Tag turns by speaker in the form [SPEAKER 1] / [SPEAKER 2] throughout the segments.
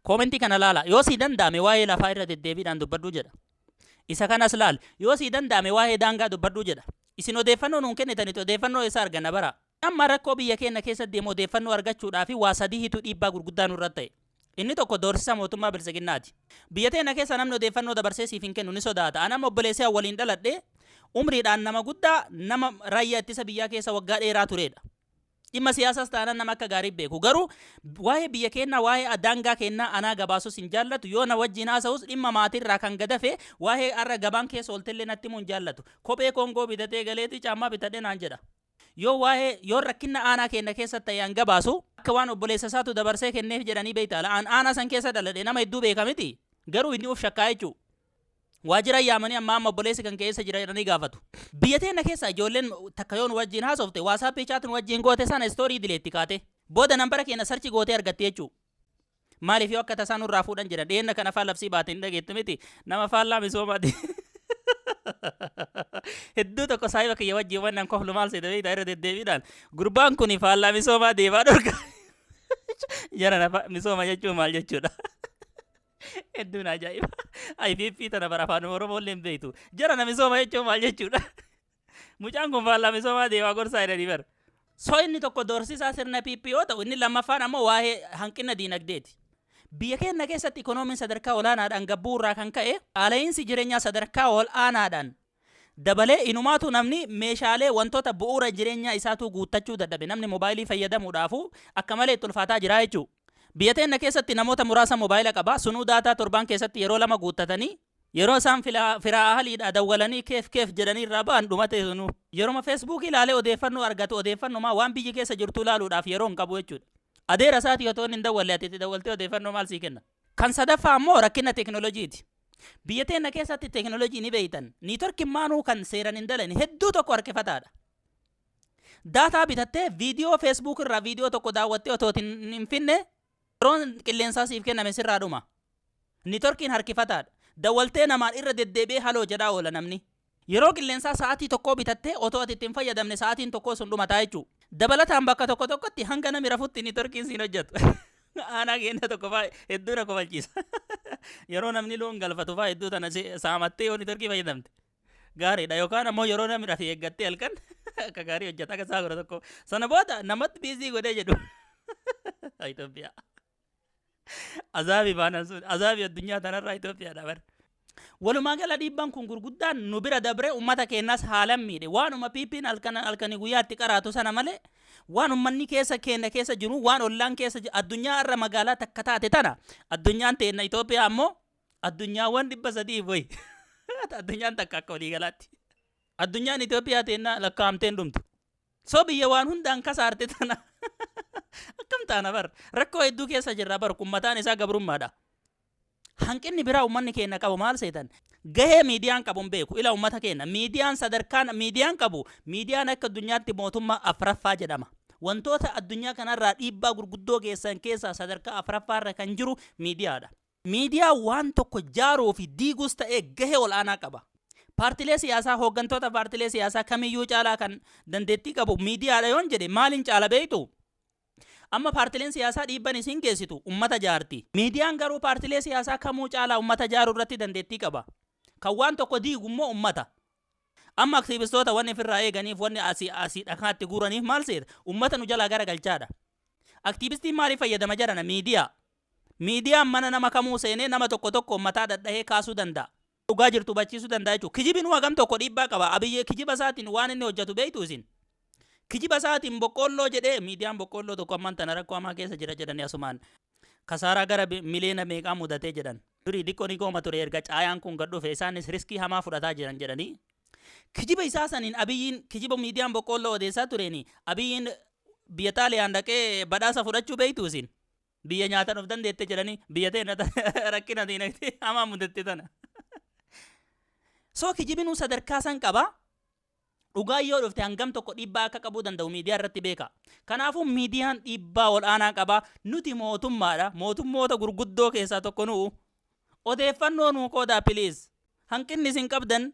[SPEAKER 1] Koomentii kana laala. Yoo sii danda'ame waa'ee lafaa irra deddeebiidhaan dubbadhu jedha. Isa kanas laali. Yoo sii danda'ame waa'ee daangaa dubbadhu jedha. Isin odeeffannoo nuun kennitanitu odeeffannoo eessaa arganna bara? Amma rakkoo biyya keenna keessa deemu odeeffannoo argachuudhaafi waa sadihitu dhiibbaa gurguddaa nurra ta'e. Inni tokko doorsisa mootummaa Biltsiginnaati. Biyya teenna keessa namni odeeffannoo dabarsee siif hin kennu ni sodaata. An amma obboleessi an waliin dhaladhe umriidhaan nama guddaa nama raayyaa ittisa biyyaa keessa waggaa dheeraa tureedha. Dhimma siyaasaas taanaan nama akka gaarii beeku. Garuu waa'ee biyya keennaa, waa'ee daangaa keennaa anaa gabaasus hin jaallatu. Yoo na wajjin haasa'us dhimma maatiirraa kan gad hafe waa'ee har'a gabaan keessa ooltellee natti himuu hin jaallatu. Kophee Koongoo bitatee galeeti caammaa bitadhe naan jedha. Yoo waa'ee yoon rakkinna aanaa keenna keessatti ta'e an gabaasu akka waan obboleessa isaatu dabarsee kenneef jedhanii beektaa laa? An aanaa san keessa dhaladhe nama hedduu beeka mitii? Garuu inni uf shakkaa jechuu. Waajjira yaamanii ammaa amma obboleessi kan kee eessa jira jedhanii gaafatu. Biyya teenna keessa ijoolleen takka yoo nu wajjiin haasofte WhatsApp chat nu wajjiin goote sana story dileetti kaatee. Booda nambara keenna search gootee argatti jechuu. Maaliif yoo akka tasaa nurraa fuudhan jedhan dhiyeenna kana faa labsii baate ni dhageettu miti nama faallaa misoomaati. Hedduu tokko saahiba kiyya wajjiin wannan koflu maal seete beektaa irra deddeebiidhaan gurbaan kuni faallaa misoomaa deemaa dhorka. Jarana misooma jechuun maal jechuudha? Hedduun ajaa'iba. IPP tana bara afaan Oromoo illee hin beektu. Jara na misooma jechuun maal jechuudha? Mucaan kun faallaa misoomaa deemaa gorsaa jedhanii bara. So inni tokko doorsisaa sirna PP yoo ta'u inni lammaffaan ammoo waa'ee hanqina diinagdeeti. Biyya keenya keessatti ikonoomiin sadarkaa olaanaadhaan gabbuu irraa kan ka'e qaala'iinsi jireenyaa sadarkaa ol'aanaadhaan Dabalee, inumaatu namni meeshaalee, wantoota bu'uura jireenyaa isaatuu guuttachuu dadhabe. Namni mobaayilii fayyadamuudhaafuu akka malee itti ulfaataa jira jechuu. Biyya teenna keessatti namoota muraasa mobaayila qaba, sunuu daataa torbaan keessatti yeroo lama guuttatanii, yeroo isaan filaa, firaa ahaliidhaa dawwalanii keef keef jedhanii irraa ba'an dhumatee sunuu. Yeroma feesbuukii laalee odeeffannoo argatu odeeffannomaa waan biyyi keessa jirtuu laaluudhaaf yeroo hin qabu jechuudha. Adeera isaatii otoo inni hin dawwalle ati itti dawwaltee odeeffannoo maal sii kenna? Kan sadaffaa ammoo rakkina teekinooloojiiti. Biyya teenna keessatti teekinooloojii ni beektan. Niitworkiin maanuu kan seeran hin dalane hedduu tokko harkifataadha. Daataa bitattee viidiyoo feesbuuk irraa viidiyoo tokko daawwattee otoo hin finne yeroon qilleensaa siif kenname sirraa dhuma. Niitworkiin harkifataadha. Dawwaltee namaan irra deddeebi'ee haloo jedhaa oola namni. Yeroo qilleensaa sa'aatii tokkoo bitattee otoo ati itti hin fayyadamne sa'aatiin tokkoo sun dhumataa jechuu. Dabalataan bakka tokko tokkotti hanga nami rafutti nitorkiin siin hojjatu. Aanaa keenya tokko faa hedduu na kofalchiisa. Yeroo namni loon galfatu faa hedduu tana si- saamattee yoo nitorkii fayyadamte. Gaariidha yookaan ammoo yeroo namni rafe eeggattee halkan akka gaarii hojjata akka saa godha tokko. Sana booda namatti biizii godhee jedhu. Itoophiyaa. Azaabii baanaan sun azaabii addunyaa tanarraa Itoophiyaadha bara. Walumaa gala dhiibbaan kun gurguddaan nu bira dabree uummata keenyas haalan miidhe. Waanuma PP'n halkan halkanii guyyaatti qaraatu sana malee waan uummanni keessa keenya keessa jiru waan ollaan keessa jiru addunyaa irra magaalaa takka taate tana addunyaan teenna Itoophiyaa ammoo addunyaawwan dhibba sadii wayi addunyaan takka akka waliigalaatti. Addunyaan Itoophiyaa teenna lakkaa'amteen dhumtu. So biyya waan hundaan kasaarte tana akkam taana bar rakkoo hedduu keessa jirra bar kun mataan isaa gabrummaadha. Hanqinni biraa uummanni keenya qabu maal seetan gahee miidiyaan qabu hin beeku ila uummata keenya miidiyaan sadarkaan miidiyaan qabu miidiyaan akka addunyaatti mootummaa afraffaa jedhama. Wantoota addunyaa kanarraa dhiibbaa gurguddoo geessan keessaa sadarkaa afraffaarra kan jiru miidiyaadha. Miidiyaan waan tokko jaaruu fi diiguus ta'ee gahee ol'aanaa qaba. Paartilee siyaasaa, hooggantoota paartilee siyaasaa kamiyyuu caalaa kan dandeettii qabu miidiyaadha yoon jedhe maaliin caala beektuu? Amma paartileen siyaasaa dhiibban isiin geessitu ummata jaarti. Miidiyaan garuu paartilee siyaasaa kamuu caalaa ummata jaaruu irratti dandeettii qaba. Kan waan tokko diigu immoo ummata. Amma aktiivistoota wanni ofirraa eeganiif, wanni asii asii dhakaa itti guuraniif maal seeta? Ummata nu jalaa garagalchaadha. Aktiivistiin maaliif fayyadama jarana? Miidiyaa. Miidiyaan mana nama kamuu seenee nama tokko tokkoon mataa dhadhahee kaasuu danda'a. Dhugaa jirtu hubachiisuu danda'a jechuudha. Kijibinuu hagam tokko dhiibbaa qaba. Abiy kijiba isaatiin waan inni hojjetu beektuu isin? Kijiba isaatiin boqqoolloo jedhee miidiyaan boqqoolloo tokko ammaan tana rakkoo hamaa keessa jira jedhanii asumaan kasaaraa gara miliyoona meeqaa mudatee jedhan. Durii diqqoo ni gooma ture erga caayaan kun gad dhufe isaanis riskii hamaa fudhataa jiran jedhanii kijiba isaa saniin Abiyyiin kijiba miidiyaan boqqoolloo odeessaa tureeni Abiyyiin biyya Xaaliyaan dhaqee badhaasa fudhachuu beektuu isin? Biyya nyaataan of dandeette jedhanii biyya ta'e rakkina diinagdee hamaa mudatte tana. Soo kijibinuu sadarkaa san qaba. Dhugaan yoo dhufte hangam tokko dhiibbaa akka qabuu danda'u miidiyaa irratti beeka. Kanaafuu miidiyaan dhiibbaa ol'aanaa qaba. Nuti mootummaadha. Mootummoota gurguddoo keessaa tokko nu'u. Odeeffannoo nuu qoodaa piliis. Hanqinni isin qabdan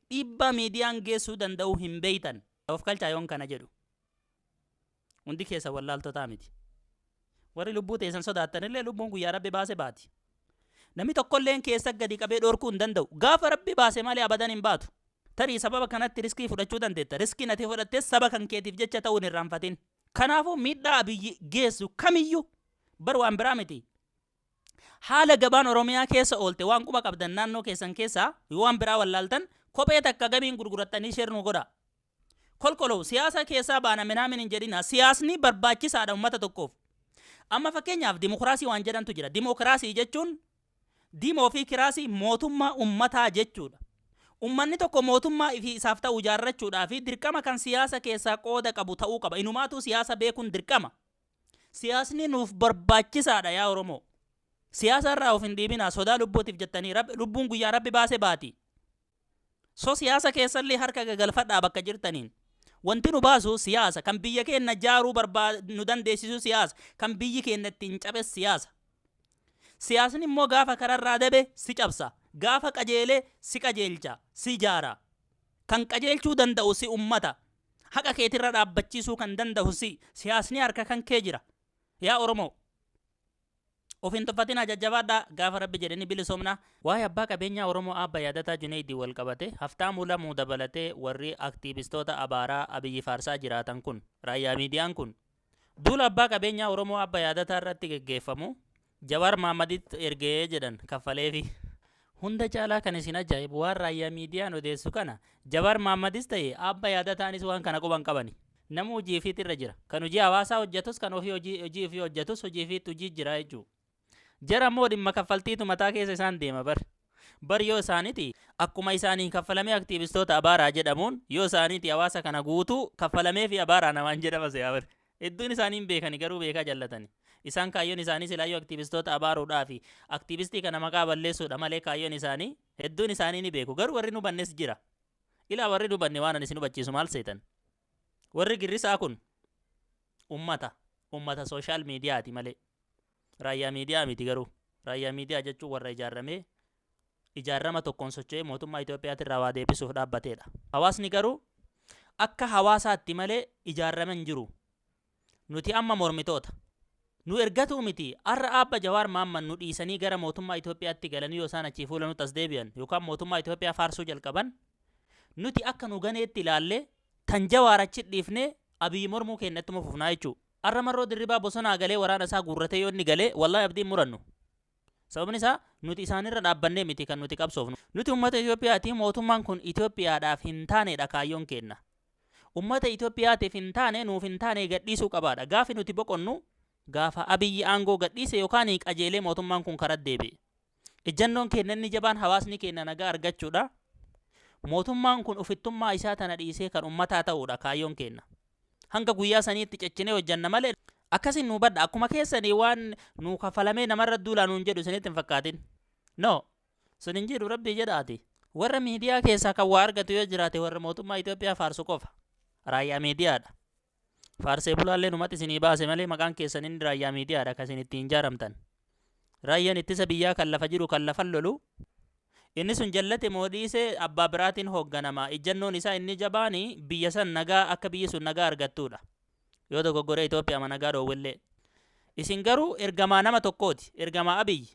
[SPEAKER 1] dhiibbaa miidiyaan geessuu danda'u hin beeytan. Of kalchaa yoon kana jedhu. Hundi keessan wallaaltotaa miti. Warri lubbuu teessan sodaattanillee lubbuun guyyaa Rabbi baase baati. Namni tokkolleen keessa gadi qabee dhorkuu hin danda'u. Gaafa Rabbi baase malee abadan hin baatu. Tarii sababa kanatti riskii fudhachuu dandeetta. Riskiin ati fudhattes saba kan keetiif jecha ta'uu hin irraanfatin. Kanaafuu miidhaa Abiyyi geessu kamiyyuu bar waan biraa miti. Haala gabaan Oromiyaa keessa oolte waan quba qabdan naannoo keessan keessaa yoo waan biraa wallaaltan kophee takka gamiin gurgurattanii share nuu godhaa. Kolkolow siyaasa keessaa baana minaamin hin jedhinaa siyaasni barbaachisaadha ummata tokkoof. Amma fakkeenyaaf dimokiraasii waan jedhantu jira dimokiraasii jechuun dimoo fi kiraasii mootummaa ummataa jechuudha. Ummanni tokko mootummaa ifi isaaf ta'u ijaarrachuudhaa fi dirqama kan siyaasa keessaa qooda qabu ta'uu qaba inumaatuu siyaasa beekuun dirqama. Siyaasni nuuf barbaachisaadha yaa Oromoo. Siyaasa irraa of hin dhiibinaa sodaa lubbuutiif jettanii Rabbi- lubbuun guyyaa Rabbi baase baati. So siyaasa keessallee harka gagalfadhaa bakka jirtaniin. Wanti nu baasu siyaasa kan biyya keenya jaaruu barbaa nu dandeessisu siyaasa kan biyyi keenya ittiin cabes siyaasa. Siyaasni immoo gaafa kararraa dabe si cabsa. Gaafa qajeele si qajeelcha, si ijaara. Kan qajeelchuu danda'u si ummata. Haqa keetirra dhaabbachiisuu kan danda'u si. Siyaasni harka kan kee jira. Yaa Oromoo! Of hin tuffatinaa jajjabaadhaa gaafa Rabbi jedhe ni bilisoomna. Waa'ee abbaa qabeenyaa Oromoo Aabba Yaadataa Juneeydiin walqabatee Haftaamuu Lamuu dabalatee warri aktiivistoota abaaraa Abiyyi faarsaa jiraatan kun, Raayyaa Miidiyaan kun, duula abbaa qabeenyaa Oromoo Aabba Yaadataa irratti geggeeffamu Jawaar Mahaammaditti erge jedhan kaffaleefi. Hunda caalaa kan isin ajaa'ibu waan Raayyaa Miidiyaan odeessu kana Jawaar Mahaammadis ta'e Aabba Yaadataanis waan kana quba hin qabani. Namuu hojii ifiitti irra jira. Kan hojii hawaasaa hojjatus kan ofii hojii hojii ifii hojjatus hojii ifiitti hojii jira jechuu. Jara immoo dhimma kaffaltiitu mataa keessa isaan deema bar. Bar yoo isaaniti akkuma isaaniin kaffalamee aktiivistoota abaaraa jedhamuun yoo isaaniti hawaasa kana guutuu kaffalameefi abaaraa namaan jedhama se'aa bar. Hedduun isaanii hin beekani garuu beekaa jallatani. Isaan kaayyoon isaanii silaayyuu aktiivistoota abaaruudhaafi aktiivistii kana maqaa balleessuudha malee kaayyoon isaanii hedduun isaanii ni beeku garuu warri hin hubannes jira. Ilaa warri hin hubanne waanan isin hubachiisu maal seetan? Warri girrisaa kun ummata ummata social mediaati malee. Raayyaa miidiyaa miti garuu. Raayyaa miidiyaa jechuun warra ijaarramee ijaarama tokkoon socho'ee mootummaa Itoophiyaatirraa waa deebisuuf dhaabbateedha. Hawaasni garuu akka hawaasaatti malee ijaarame hin jiru. Nuti amma mormitoota. Nu ergatuu miti har'a aabba Jawaar Maamman nu dhiisanii gara mootummaa Itoophiyaatti galanii yoo isaan achii fuula nutti as deebi'an yookaan mootummaa Itoophiyaa faarsuu jalqaban nuti akka nu ganeetti ilaallee tan Jawaar achi dhiifnee Abiy mormuu keenya ittuma fufnaa jechuu. Har'a marroo Dirribaa bosonaa galee waraana isaa guurratee yoo inni galee wallaahi abdii hin murannu. Sababni isaa nuti isaanirra dhaabbannee miti kan nuti qabsoofnu. Nuti ummata Itoophiyaati, mootummaan kun Itoophiyaadhaaf hin taaneedha kaayyoon keenna. Ummata Itoophiyaatiif hin taane, nuuf hin taane gadhiisuu qabaadha. Gaafi nuti boqonnu gaafa Abiy aangoo gadhiise yookaan qajeelee mootummaan kun karatti deebi'e. Ijjannoon keenna inni jabaan hawaasni keenna nagaa argachuudha. Mootummaan kun ofittummaa isaa tana dhiisee kan ummataa ta'uudha kaayyoon keenna. Hanga guyyaa saniitti cechinee hojjanna malee akkasiin nuu badha akkuma keessanii waan nuu kafalamee namarra duulaa nuun jedhu isinitti hin fakkaatin. No! Sun hin jiru rabbii jedhaati. Warra miidiyaa keessaa kan waa argatu yoo jiraate warra mootummaa Itoophiyaa faarsu qofa. Raayyaa miidiyaadha. Faarsee bulaallee numatti isinii baase malee maqaan keessan inni raayyaa miidiyaadha kan isin ittiin ijaaramtan. Raayyaan ittisa biyyaa kan lafa jiru kan lafan lolu, inni sun jallate moo dhiise abbaa biraatiin hoogganama. Ijjannoon isaa inni jabaan biyya san nagaa akka biyyi sun nagaa argattuudha. Yoo dogoggoree Itoophiyaama nagaa dhoowwellee. Isin garuu ergamaa nama tokkooti. Ergamaa Abiy.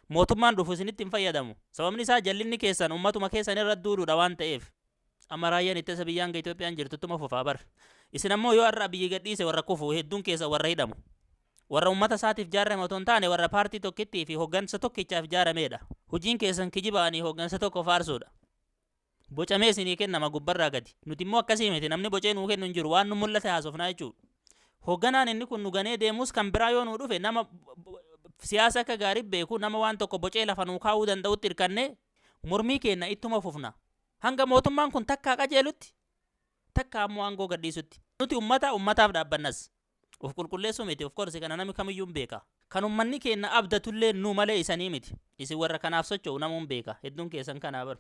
[SPEAKER 1] Mootummaan dhufu isinitti hin fayyadamu. Sababni isaa jallinni keessan ummatuma keessan irra duuluudha waan ta'eef. Amma raayyaan ittisa biyyaa hanga Itoophiyaan jirtu ittuma fufaa bar. Isin ammoo yoo har'a Abiyyi gadhiise warra kufu hedduun keessa warra hidhamu. Warra uummata isaatiif jaarame otoo hin taane warra paartii tokkittii fi hoggansa tokkichaaf jaarameedha. Hojiin keessan kijibaanii hoggansa tokko faarsuudha. Bocamee isinii kennama gubbarraa gadi. Nuti immoo akkasii miti namni bocee nuu kennu hin jiru waan nu mul'ate haasofnaa jechuudha. Hogganaan inni kun nu ganee deemus kan biraa yoo nuu dhufe nama siyaasa akka gaarii beeku nama waan tokko bocee lafa nuu kaa'uu danda'utti hirkannee mormii keenna ittuma fufna. Hanga mootummaan kun takkaa qajeelutti, takkaa ammoo aangoo gadhiisutti. Nuti ummata, ummataaf dhaabbannas. Of qulqulleessuu miti, of course kana nami kamiyyuu hin beeka. Kan ummanni keenna abdatulleen nu malee isanii miti. Isin warra kanaaf socho'u namuu hin beeka. Hedduun keessan kanaa bar.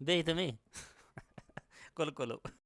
[SPEAKER 1] Beeytu mii? Qulquluu.